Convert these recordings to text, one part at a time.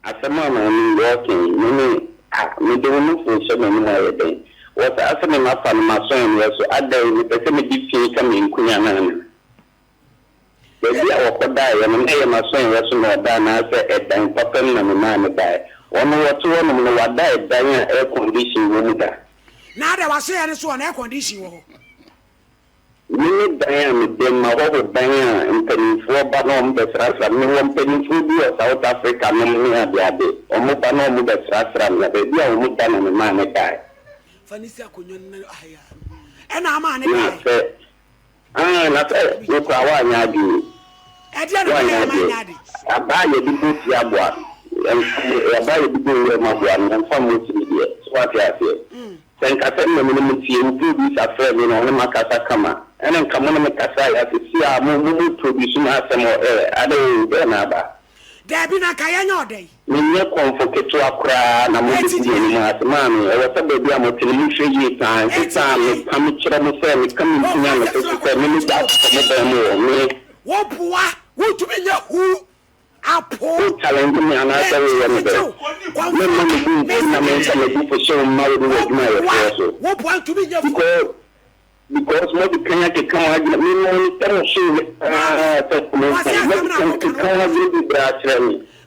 Asɛm a maame yi ɔɔkɛn me ne a, mede wo nofoo hyɛ m'anom ayɛ dɛn? Wɔ saa sɛdeɛ mafa no m'aso anwea so, adɛn, mepɛ sɛ mede fii ka me nkunya anaa me ho? Baabi a wɔkɔdaeɛ no, na ɛyɛ m'aso anwea so na ɔdaa anaasɛ ɛdan papa mu na memaa no daeɛ? Wɔn a wɔte hɔnom no, wɔada ɛdan a air condition wɔ mu da? Na adɛn, w'aso anwea no so ɔ, na air condition wɔ hɔ? Me ne dan a mede ma hɔ ho dan a mpaninfoɔ ba na wɔbɛsrasra me. Mewɔ mpaninfoɔ bi wɔ South Africa nom ne adeade. Wɔba na wɔbɛsrasra me. Na baabi a wɔda no me maame daeɛ. Fa no si akonnwa no na aha yi ara no ɛna ama ne daeɛ. Na sɛ aane na sɛ wo koraa woanyɛ adwene yi. Ɛdeɛn na mɛyɛ a manyɛ ade? Aba a yɛde bɔ fie aboa no, yɛmfa mmɔ. Aba a yɛde bɔ nwura mu aboa no, yɛmfa mmɔ fie deɛ. So wate aseɛ? Sɛ nka sɛ nna me ne mo tie, wo producer frɛ me na ɔne makasa kama ɛna nka mo ne me kasae a sesei a mo mo mo produce me asɛm wɔ air adɛn oo dɛn na aba. Daabi na nka yɛnyɛ ɔdɛ yi. Me nyɛ kɔmfo ketewa koraa na mo Eti begu deɛ. m'anim ase maame ɛwɔ sɛ baabi a mo te no mo hwɛ yie paa ɛnte Eti saa a deɛ. me ka me kyerɛ mo sɛ me ka me ntini a Ɔka me sɛ sese sɛ me ne gya atotɔ mo dan mu wɔ me Wo boa, wo ntumi nyɛ huu apo. Wo talente me anaasɛ wo yɛ me dɛ. Me mma me bo nfu na me nsa m'abufusow mma wo ne w'adwumayɛfoɔ so. Because because mo de kan akeka mo adwene me no mo nsa mo soo me paa sɛ me nsa mo de kan akeka mo adwene bibire akyerɛ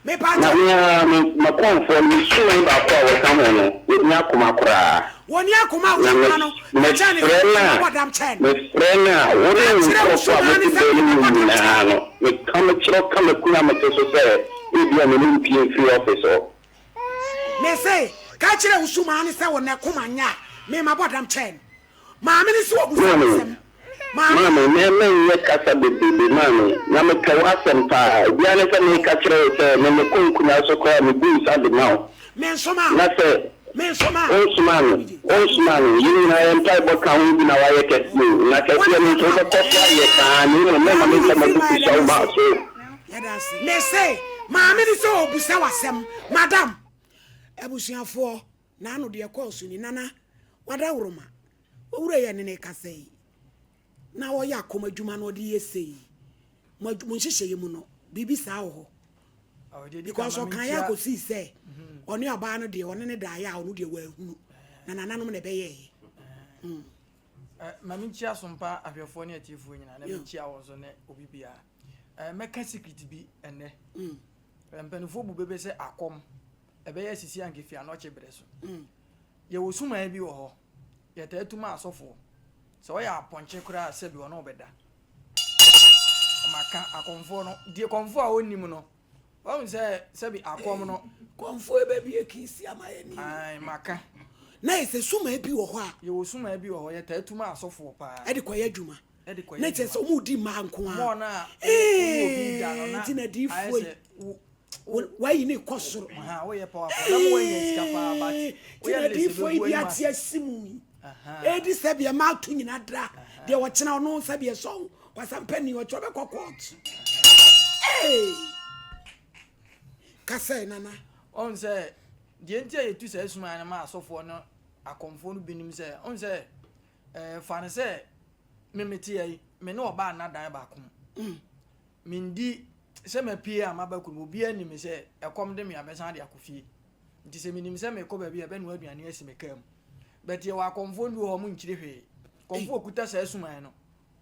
me na me ara me m'akuanfoɔ no me suman baako a wɔka ho no yɛnni akoma koraa. Wɔnni akoma a wogye nkwa no, na kyɛn ne sɛ wosoma bɔ dam kyɛn. Mefrɛ no a, wo ne wo nkurɔfo a mote baanu no mu nyinaa no, meka mekyerɛw ka me kunu a mete so sɛ ebia ne ne mpue mfiri ɔfese hɔ. Mese, ka kyerɛ wo sumaa no sɛ wo ne koma nyɛ a, me mabɔ dam kyɛn no. Maame no nso wɔ busuabusɛm. Maame, me menyɛ kasa bebrebe, Maame, na mepɛ w'asɛm paa. Ebiara ne sɛ meka kyerɛ wo sɛ me mekɔ nkonnwa so koraa a mebu nsa de ma wo. Na sɛ wonsomaa me, wonsomaa me. Yɛn nyinaa yɛn mpaebɔ ka ho bi na woayɛ kɛseɛ o, na kɛseɛ no nso wobɛkɔ so ayɛ saa ara, na mmom mɛma me nsa mu abu fi sua wo ba so o. Yɛda ase. Mese, Maame no sɛ ɔrebisa wo asɛm, Madam. Abusuafoɔ, N'ano deɛ ɛkɔɔ so ni, Nana, w'adaworoma, w'awura yi ɛne no rekasa yi, na ɔyɛ akɔm adwuma na ɔde yɛ sei. Mo adw- mo nhyehyɛeɛ mu no, biribi saa wɔ hɔ. Ɔde di Because kama ɔkaeɛ menkyia. akɔsii sɛ ɔne ɔbaa no deɛ ɔne ne daeɛ a ɔno deɛ wɔahunu. Na nananom na ɛbɛyɛeɛ. Eh, ma menkyia sompa ahwɛfoɔ ne atiefoɔ nyinaa na Yeah. menkyia wɔn so ne obi biara Eh, mɛka secret bi ɛnnɛ Eh, mpanimfoɔ bu bebe sɛ akɔm Ɛbɛyɛ sisi anka efi anɔkye bere so. Yɛwɔ sumae bi wɔ hɔ, yɛtaa tu ma asɔfo. Sɛ ɔyɛ apɔnkye koraa a, sɛbi ɔne wo bɛda. Ɔmaka akɔmfoɔ no, deɛ kɔmfoɔ a ɔnnim no, wahu sɛ sɛbi akɔm no. Kɔmfoɔ bɛbie kiisi ama yɛ ni. Ae, maka. Na yɛ sɛ sumae bi wɔ hɔ a. Yɛwɔ sumae bi wɔ hɔ, yɛtaa tu ma asɔfoɔ paa. Ɛde kɔyɛ adwuma. Ɛde kɔyɛ adwuma. Na kyerɛ sɛ wɔn di mmaa nko ara. Wɔn a wɔn obi da no na ayɛ sɛ wo. wayi ne kɔ soro tinadiifoɔ yi de ate asi mu yi ɛdi sɛ deɛ maato nyina dra deɛ ɔkyena ɔno sɛ deɛ sɔ kwasampa ni ɔkyɛ ɔbɛkɔ court ka sɛ nana ɔn sɛ deɛ nti a yɛtu saa suma no ma asɔfoɔ no akɔmfoɔ no binom sɛ ɔn sɛ fa no sɛ memeteɛ yi me ne ɔbaa nnadan baako mu mm. Mendi sɛ mapue a maba kurom. Obiara nim me sɛ ɛkɔm de me a mɛsan de akɔ fie. Nti sɛ menim sɛ merekɔ baabi a ɛbɛnoa aduane asi me kaa mu. But yɛwɔ akɔmfoɔ ndu hɔ a wɔnkyiri hwee. Kɔmfoɔ a ɔkuta saa suman no,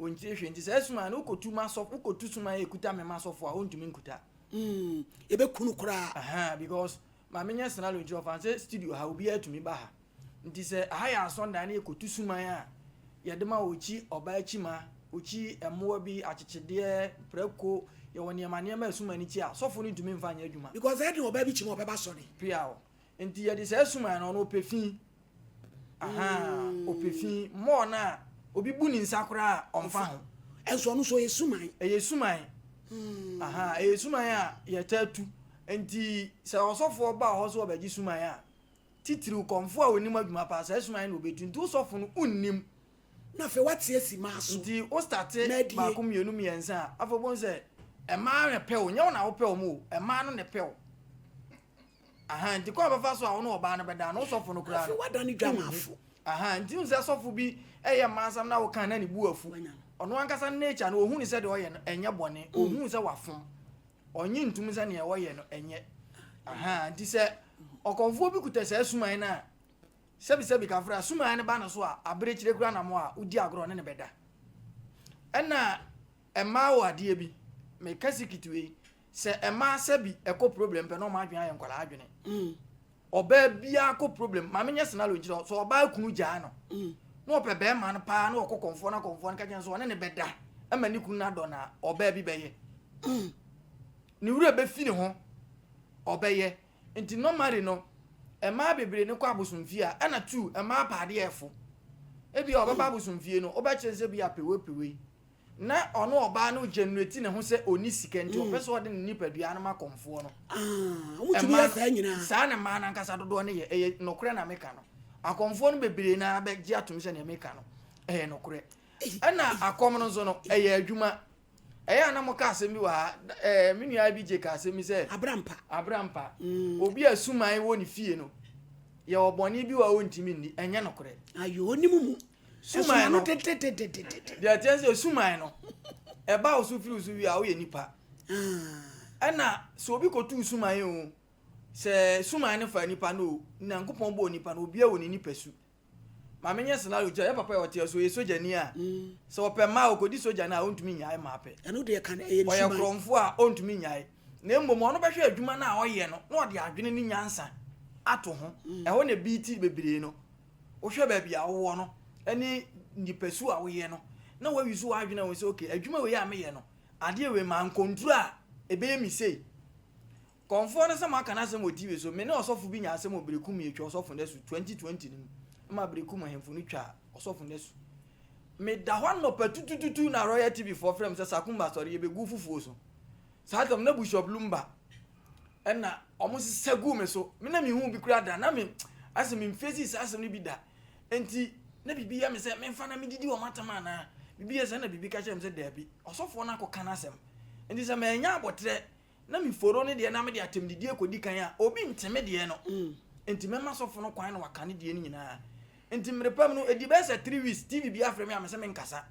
ɔnkyiri hwee. Nti saa suman no wokɔtu m'asɔfo, wokɔtu suman a ɛkuta me m'asɔfo a, ɔntumi nkuta. Mm, yɛbɛku no koraa. Ahaa, because maame nyɛ scenario nti ɔfa no sɛ studio ha, obiara tumi ba ha. Nti sɛ aha yɛ asɔndan ne yɛkɔtu suman a, yɛde ma ɔkyi ɔbaa kyima, ɔkyi mmoa bi, akyekyedeɛ, prako, yɛwɔ nneɛma nneɛma a suman no kyi a, sɔfo no ntumi mfa nyɛ adwuma. Because ɛyɛ den ɔbaa bi kyima a ɔbɛba asɔre. Piaw. Nti yɛde saa suman no, ɔno ɔpɛ fi. Ahaa, ɔpɛ fi, more no a obi bu ne nsa koraa a, ɔmfa ho. Nso ɔno nso ɔyɛ suman. Ɛyɛ suman. Ahaa, ɛyɛ suman a yɛtaa tu. Nti sɛ ɔsɔfoɔ ba wɔ hɔ sɛ ɔbɛgye suman a, Titiriw kɔmfo a onim adwuma paa, saa sum ahe na obetu? Nti wo sɔfo no wonnim. Na afei wate asi maa so. Nti wo starte baako mmienu mmiɛnsa a, afei wobɛhu sɛ mmaa na ɛpɛ wo, nyɛ wo na wopɛ wɔn o, mmaa no na ɛpɛ wo. Ahaa, nti kwan a wɔbɛfa so a wo ne ɔbaa no bɛda no, wo sɔfo no koraa no. Afei wada ne dwamafo. Ahaa, nti wohu sɛ sɔfo bi yɛ mmaa asɛm na woka na ne bo afu. Ɔno ankasa ne nature no, ohu no sɛ deɛ ɔyɛ no ɛnyɛ bɔne, ohu sɛ wafom. Ɔnye ntum sɛ nea wɔyɛ no ɛnyɛ. Ahaa, nti sɛ ɔkɔmfoɔ bi kuta saa suman no a, sɛbisɛbi kafra a, suman no ba ne so a, aberekyire kura namɔ a, wodi agorɔ ɔne ne bɛda. Ɛna mmaa wɔ adeɛ bi, meka sikit wei, sɛ mmaa sɛbi ɛkɔ problem pɛ na wɔn adwene ayɛ nkwadaa adwene. Mm. ɔbaa biara kɔ problem maame nyɛ senalo nkyerɛ hɔ sɛ ɔbaa kunu gyaa no na ɔpɛ bɛrima no paa na ɔkɔ kɔnfoɔ na kɔnfoɔ no ka kyɛn so ɔne ne bɛda ma ne kunu no adɔ no a ɔbaa bi bɛyɛ ne wura bɛfi ne ho ɔbɛyɛ nti normally no mmaa bebree no kɔ abosomfie a ɛna tu mmaa paadeɛ ɛfo ebi a ɔbɛba abosomfie no ɔbɛkyerɛ sɛ bi apewepewei Na ɔno ɔbaa no generate ne ho sɛ ɔni sika nti ɔpɛ sɛ ɔde ne nipadua no ma kɔmfoɔ no. Ah, wɔn tumi yɛ saa nyinaa. Saa na mmaa nankasa dodoɔ no yɛ ɛyɛ nokorɛ na meka no akɔmfoɔ no bebree na abɛgye atom sɛ nea meka no ɛyɛ nokorɛ ɛna akɔm no nso no ɛyɛ adwuma ɛyɛ a na mo ka asɛm bi wɔ ha ɛɛ me nua bi gye ka asɛm bi sɛ abrampa abrampa mm. obi a suman wɔ ne fie no yɛ ɔbɔnne bi wɔ a ɔntumi nni ɛnyɛ nokorɛ ayɛ ɔnim mu suman no deɛ ɛteɛ sɛ suman no ɛba wo so firi wo so wie a woyɛ nipa ah. ɛna sɛ obi kɔtuu suman o sɛ suman no fa nipa no o nyankopɔn bɔɔ nipa no obia wɔ ne nipa su ma menyɛ scenario kyɛ yɛ papa yɛ ɔteɛ so yɛ sogyani a mm. sɛ ɔpɛ mmaa ɔkɔdi sogya no a ɔntumi nyae mmaa pɛ ɔyɛ korɔmfo a ɔntumi nyae na mmom ɔno bɛhwɛ adwuma no a ɔyɛ no na ɔde adwene ne nyansa ato ho mm. ɛhɔ na bi ti bebree no Wohwɛ baabi a wowɔ no ne nipasu a woyɛ no na woayusu w'adwene ahu sɛ okay, adwuma wei a meyɛ no, adeɛ wei ma nkɔnduru a ɛbɛyɛ me sei. Kɔmfoɔ no sɛ moaka no asɛm wɔ TV so, me ne ɔsɔfo bi nya asɛm wɔ Berekum yɛtwa ɔsɔfo no asu 2020 no mu, ma Berekum ahemfo no twaa ɔsɔfo no asu. Meda hɔ anɔpa tutututu na Royal TV foɔ frɛ me sɛ Sakumba sɔre yɛbɛgu fufuo so. Saa tam na Bishop Lumba ɛna ɔmo sesa guu me so. Me na mehu bi koraa da na me asɛ me mfesi saa asɛm no bi da. Enti na biribi yɛ me sɛ memfa na medidi wɔn atam anaa biribi yɛ sɛ na biribi ka kyerɛ me sɛ daabi ɔsɔfoɔ no akɔka n'asɛm. Enti sɛ mannya abɔterɛ na meforo ne deɛ na mede atɛmdidie kɔdi kan a obi nte me deɛ no. Enti mɛma sɔfo no kwan na waka ne deɛ no nyinaa. Enti mmerepam no ɛdi bɛyɛ sɛ three weeks TV bi afrɛ me a mesɛ menkasa.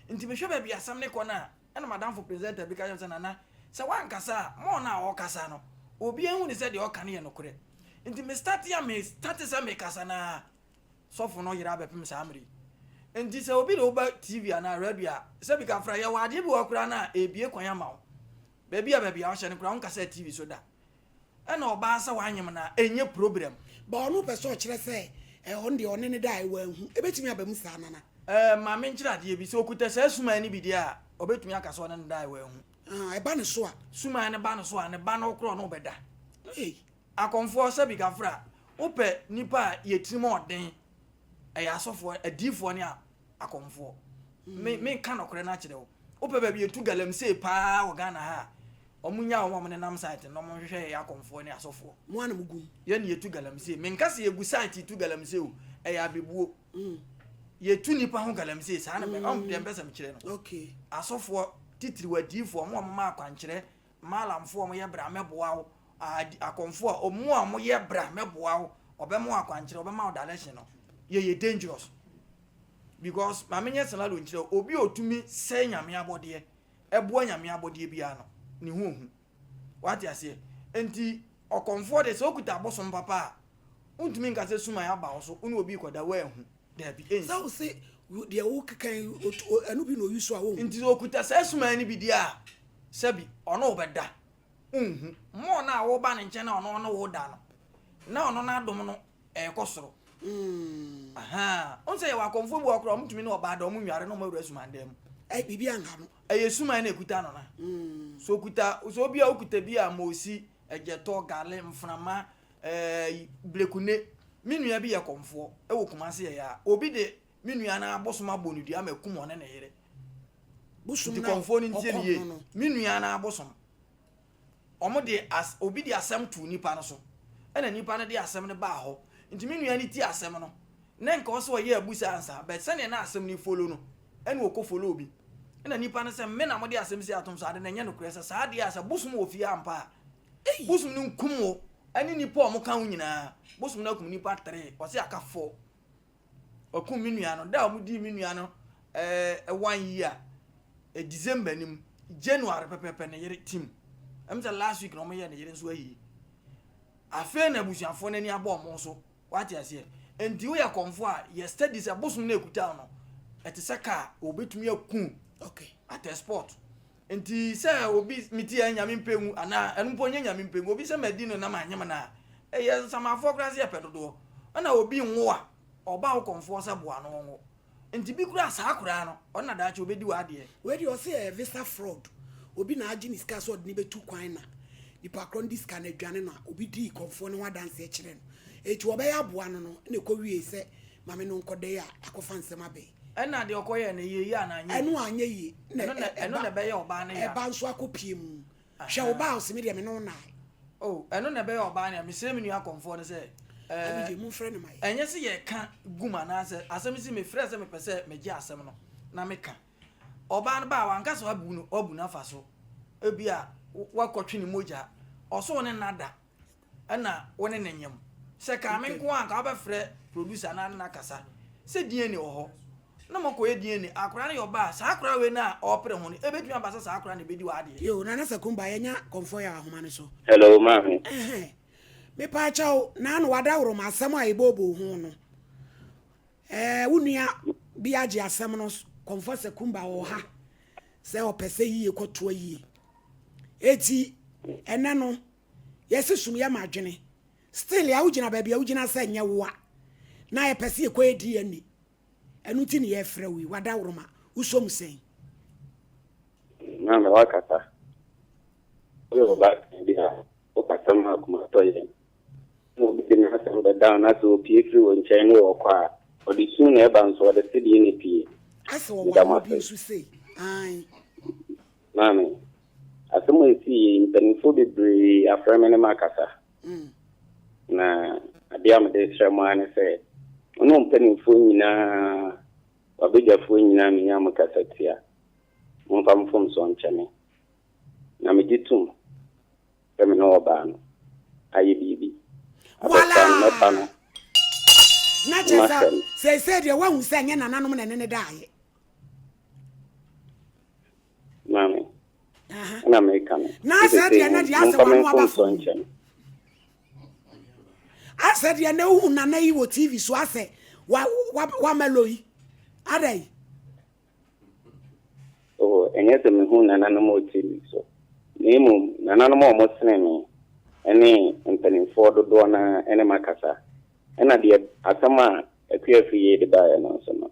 Enti mehwɛ baabi asɛm no kɔ no a. Ɛna m'adamfo presenter bi ka kyerɛɛ me sɛ, Nana, sɛ woankasa a, ma ɔno a ɔrekasa no, obiara nhu no sɛ deɛ ɔreka no yɛ nokorɛ. Nti me startee a, me startee sɛ merekasa no ara, sɔfo no yere abɛpem saa mmerɛ yi. Nti sɛ obi de wo ba TV anaa radio a, sɛbi ka fra, yɛwɔ adeɛ bi wɔ hɔ koraa no a, ɛrebue kwan ama wo. Baabi a baabi a ɔhyɛ no koraa, wonkasaa TV so da. Ɛna ɔbaa sɛ wanyem no a ɛnyɛ problem. But ɔno pɛ sɛ ɔkyerɛ sɛ eh, ɔno deɛ ɔne no daeɛ wanhu. Ɛbɛtumi aba mu saa Nana? Eh, ma menkyerɛ adeɛ bi. Sɛ ɔkuta saa suman no bi deɛ a, ɔbɛtumi aka sɛ ɔne no daeɛ wanhu. Ah, ɛba ne so a? Suman no ba ne so a, ne ba no korɔ ne wobɛda. Ei. Akɔmfoɔ, sɛbi Gafra, wopɛ nipa a yɛtirim ɔden, ɛyɛ asɔfoɔ, adiyifoɔ ne a, akɔmfoɔ. Me me nka nɔkorɛ no akyerɛ wo. Wopɛ baabi etu galamsey paa wɔ Ghana ha a, wɔn nya wɔn a wɔn nenam site no na wɔn nhwehwɛ yɛyɛ akɔmfoɔ ne asɔfoɔ. Mo ana mo gu mu. Yɛn na yɛtu galamsey. Me nka sɛ yɛgu site tu galamsey o, ɛyɛ abebuo. Mm. Yɛtu nipa ho galamsey saa na mɛ, mm. ɔn deɛ mpɛ sɛ mekyerɛ no. Okay. Asɔfoɔ titiriw adiifoɔ wɔn a wɔn ma akwankyerɛ Maalamfoɔ a wɔyɛ bra mɛboa wo, aadi akɔmfoɔ a wɔn a wɔyɛ bra mɛboa wo, wɔbɛma wo akwankyerɛ, wɔbɛma wo direction no, yɛyɛ dangerous. Because ma menyɛ scenario nkyerɛ wo, obi a ɔtumi sɛe Nyame abɔdeɛ, ɛboa Nyame abɔdeɛ biara no, ne ho ɔhu. Wate aseɛ? Enti ɔkɔmfoɔ deɛ sɛ ɔkuta abosom papa a, wontumi nka sɛ suman aba wo so, wo ne obi rekɔda woanhu. Dabi, ɛnsi. Sɛ wo se deɛ wokeka yi, ɛno bi na ɔyi so a, wonhu. Nti ɔkuta saa suman no bi deɛ a, sɛbi ɔne wo bɛda, wonhu. More no a woba ne nkyɛn na ɔno ɔne wo da no, na ɔno n'adom no ɛrekɔ soro. Ahaa, wohu sɛ yɛwɔ akɔmfoɔ bi wɔ hɔ koraa a, wɔtumi ne ɔbaa da, wɔnware na wɔawura suman dan mu. Ɛyi, biribi anha no. Ɛyɛ suman na ɛkuta no no. Sɛ ɔkuta, sɛ obi a wokuta bi a, moosi, ɛgyɛtɔ, gale, mframa, Eeii Blekunne, me nua bi yɛ kɔmfoɔ wɔ Kumasi ɛyɛ a obi de me nua no ara bosom abɔ no dua ama akum ɔne ne yere. Bosom Nti na kɔmfoɔ no ntie me ɔkɔm yie. no no. Me nua no ara bosom. Wɔn de as obi de asɛm too nipa no so ɛna nipa no de asɛm no baa hɔ. Nti me nua no tie asɛm no na nka ɔsɛ ɔyɛ abu saa ansa but sɛdeɛ na asɛm no follow no ɛna ɔkɔ follow obi. Ɛna nipa no sɛ me na mo de asɛm sei atom so ade no ɛnyɛ nokorɛ sɛ saa adeɛ a sɛ bosom wɔ fie ampa a Bosom no nkum wo ne nnipa a wɔka wo nyinaa. Bosom no akum nnipa three, ɔse aka four. Wakum me nua no, da a wɔdii me nua no eh, one year, eh, December no mu, January pɛpɛpɛ ne yere tim. Ɛm sɛ last week na wɔyɛ ne yere nso ayi. Afei na abusuafoɔ no ani abɔ wɔn so. Wate aseɛ? Enti woyɛ kɔmfo a, yɛ study sɛ bosom no ɛkuta no, ɛte sɛ kaa, wɔbɛtumi aku okay. at a spot. Enti sɛ obi se me ti yɛ Nyame mpɛ ngu anaa ɛno mpo nyɛ Nyame mpɛ ngu, obi sɛ madi no na manyem no a, ɛyɛ nsamanfoɔ koraa sɛ yɛpɛ dodoɔ. Ɛna obi nwo a, ɔba wo kɔmfoɔ sɛ boa no ɔnwo. Enti bi koraa saa koraa no, ɔno na daakye ɔbɛdi w'adeɛ. Wei deɛ ɔse ɛyɛ visa fraud, obi na agye ne sika sɛ ɔde no bɛtu kwan na nipa korɔ no de sika no adwane no a, obi dii kɔmfoɔ no ho adanseɛ kyerɛɛ no. Enti wɔbɛyɛ aboa no no na ɛkɔwiee sɛ Maame no nkɔdae a, akɔfa nsɛm abɛn. Ɛna deɛ ɔkɔyɛɛ no, ɛyɛ yie anaa anyɛ yie? Ɛno anyɛ yie. Ɛno na ɛno na ɛbɛyɛ ɔbaa no ya. Ɛba nso akɔpie mu. Hwɛ ɔbaa a ɔse me deɛ me ne wo nnae. Oh, ɛno na ɛbɛyɛ ɔbaa no ya. Mesrɛ me nua akɔmfoɔ no sɛ, ɛɛ, Abigye, momfrɛ no ma yɛn. ɛnyɛ sɛ yɛreka gu mu anaasɛ asɛm si mefrɛ sɛ mepɛ sɛ megye asɛm no na meka. Ɔbaa no ba a, wanka sɛ wabu no, wabu no afa so. Ebia wakɔtwe ne mogya. Ɔsoo ne nna da. ɛna wo ne no nyem sɛ kaa me nko a nka wobɛfrɛ producer na ne no akasa sɛ DNA wɔ hɔ na mo kɔyɛ DNA akora no yɛ ɔba a saa akora wei no a ɔpere ho no ɛbɛtumi aba sɛ saa akora no ɛbɛdi w'adeɛ. Yoo Nana Sakumba yɛnya kɔmfɔ yɛ ahoma no so. Hello maame. Ɛhɛn mepaakyɛw Nana wadaworo ma asɛm a yɛbɔɔboo ho no ɛɛ wo nua bi agye asɛm no kɔmfɔ Sakumba wɔ ha sɛ ɔpɛ sɛ yie kɔtoa yie eti ɛnɛ no Yɛse sum yɛ ma adwene. Still a wogyina baabi a wogyina sɛ nyɛ woa na yɛpɛ sɛ yɛkɔ yɛ DNA. Ɛno nti ne yɛfrɛ wo yi. Wadaworoma, wosɔ mu sɛn? Maame wakasa. Woyɛ ɔbaatan bi a wokasa ma akoma tɔ yɛn. Na obi de n'asɛm bɛda wo na sɛ opie firi wo nkyɛn ne ɔkɔ a, ɔde sum na ɛba nso ɔde sedee na epie. Asɛ ɔwɔ awoɔ bi nso sei. Aane. Maame, asɛm a ɛsii yei, mpanimfoɔ bebree afrɛ me ne makasa. Na adeɛ a mede srɛ mo ara ne sɛ, mo ne mpanimfoɔ nyinaa, w'abadwafoɔ nyinaa a menya mo kasa tia, momfa mfomsoɔ nkyɛ me. Na megye tom sɛ me ne ɔbaa no ayɛ biribi. Abɔfra no, mɛfa no, na mahwɛ no. Seesei deɛ woahu sɛ ɛnyɛ nananom na ɛne no daeɛ. Maame, ɛna meka no. Na asɛ deɛ na deɛ asɛ wɔn aba fam. Asɛ deɛ na ehu nana yi wɔ TV so asɛ wa wa wa mɛlo yi ada yi. Oh, ɛnyɛ sɛ mehu nananom wɔ TV so. Na mmom nananom a wɔn sene me ɛne mpanimfoɔ dodoɔ na ɛne makasa. Ɛna deɛ asɛm a akuafiri yɛ de baeɛ no nso no.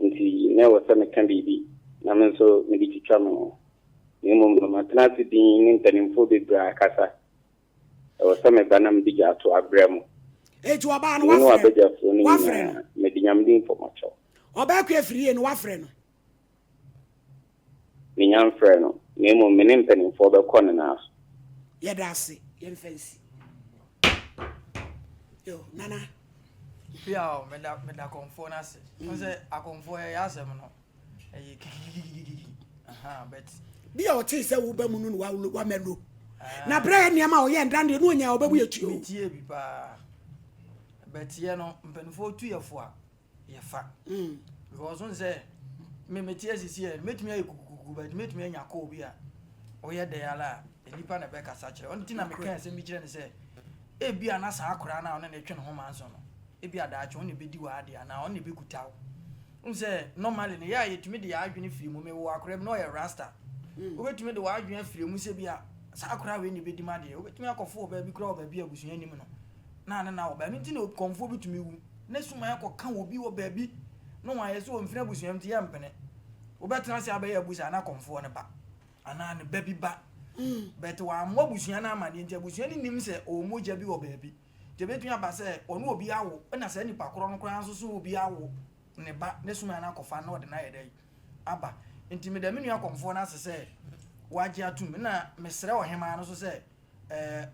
Enti na ɛwɔ sɛ meka biribi na me nso mede twitwa me ho. Na mmom no, matena ase dinn ne mpanimfoɔ bebree a ɛkasa. Ɛwɔ sɛ meba na mede gyaa to abrɛ mo. Enti wɔbaa no, wɔafrɛ no. Me ne w'abadwafoɔ no nyinaa, mede Nyame din fɔ mo akyɛw. Ɔbaa Kue firii yie no, wɔafrɛ no. Menya mfrɛɛ no, na mmom me ne mpanimfoɔ bɛkɔ ne nan so. Yɛda ase, yɛmfa nsi. Yo, Nana. Pia o, meda meda kɔmfoɔ no ase. Wohu sɛ akɔmfoɔ yɛyɛ asɛm no, ɛyɛ kikikikikikiki. Ahaa, but. Bi a ɔtee sɛ woba mu no na wa wa mɛlo. Na berɛ yɛ nneɛma a ɔyɛ ndan deɛ no ɔnya ɔbɛbu yɛ tuo. Metie bi paa. Bɛteɛ no, mpanimfoɔ tu yɛ fo a, yɛ fa because n sɛ me me teɛ sisi yɛ mɛtumi ayɛ kukukuku but mɛtumi anya kɔɔ bi a ɔyɛ dɛ ara a nipa na ɛbɛkasa kyerɛ ɔno ti na meka ɛsɛ mi kyerɛ ne sɛ ebi a na saa akora na ɔne ne twe ne ho ma nso no ebi a daakye ɔne bɛdi wɔ adeɛ anaa ɔne bɛkuta wo n sɛ normally ne yɛ a yɛtumi de yɛ adwene firi mu mewɔ akora bi na ɔyɛ rasta mm. wobɛtumi de wɔ adwene afiri mu sɛ bi a saa akora wei ne bɛdi ma deɛ wobɛtumi akɔfo wɔ baabi kora wɔ baabi abusua nim no na ne na wɔ baa no nti na kɔmfoɔ bɛtumi wu ne suman kɔka obi wɔ baabi na wɔayɛ sɛ ɔmfini abusua mu nti yɛmpene. Wobɛtena ase abɛyɛ abu saa na kɔmfoɔ no ba anaa ne ba bi ba. But wammɔ abusua no amaneɛ nti abusua no nim sɛ ɔwɔ mogya bi wɔ baabi. Nti ɛbɛtumi aba sɛ ɔne obi awo na saa nipa korɔ no koraa nso so obi awo ne ba ne suman no akɔfa na ɔde no ayɛ dɛn aba. Nti meda me nua kɔmfoɔ no ase sɛ wagye atom na mesrɛ ɔhemaa no nso sɛ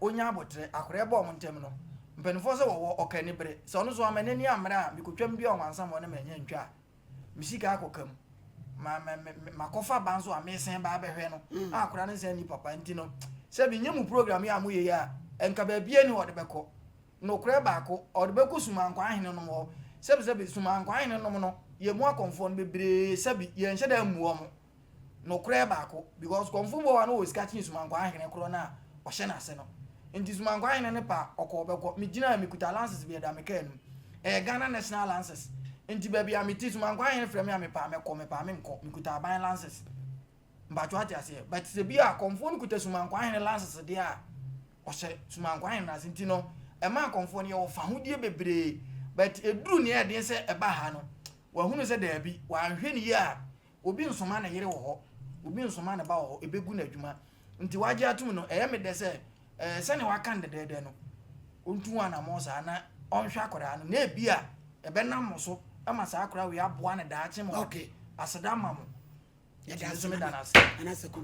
ɔnya aboterɛ, akoreɛ ba wɔn ntam no, mpanimfoɔ sɛ wɔwɔ ɔka anibere. Sɛ ɔno nso wamma n'ani ammere a, mekɔtwam dua wɔn ansa ma wɔne me anya ntwa a, me sika akɔka mu. Ma, ma, ma, makɔfa ba nso a, mesen ba abɛhwɛ no. Mm. A akora no nsa nni papa nti no, sɛ menyɛ mu program yi a moyɛ yi a, nka baabiara ni wɔde bɛkɔ. Nokorɛ baako, ɔde bɛkɔ Sumankwa ahene nom hɔ. Sɛbisɛbi, Sumankwa ahene nom no, yɛn mu akɔmfoɔ no bebree sɛbi, yɛnhyɛ da mmu wɔn. nokorɛ baako because Kɔmfo Boa no wɔ sika kyen Sumankwa Ahene korɔ no a ɔhyɛ n'ase no nti Sumankwa Ahene no pɛ a ɔkɔ ɔbɛkɔ megyinaa mekuta lances bi ɛda me car anim ɛyɛ Ghana National lances nti baabi a mete Sumankwa Ahene frɛ me a mepɛ a mɛkɔ mepɛ a menkɔ mekuta aban lances mpakyɛ wate aseɛ but sɛ bi a Kɔmfoɔ no kuta Sumankwa Ahene lances deɛ a ɔhyɛ Sumankwa Ahene n'ase nti no ɛma Kɔmfoɔ no yɛwɔ fahodie bebree but ɛduru neɛ ɛdeɛ sɛ ɛba ha no wahunu sɛ daabi wanhwɛ ne yie a Obi nsoma ne yere wɔ hɔ, obi nsoma ne ba wɔ hɔ, ɛbɛgu no adwuma. Nti wagye atom no, ɛyɛ me dɛ sɛ ɛɛ sɛnea waka no dɛdɛɛdɛ no, ɔntu ho anammɔn saa na ɔnhwɛ akwadaa no, na ebia ɛbɛnam mo so ma saa akwadaa wei aboa no daakye ma wade aseda ama mo. Nti me nso meda no ase.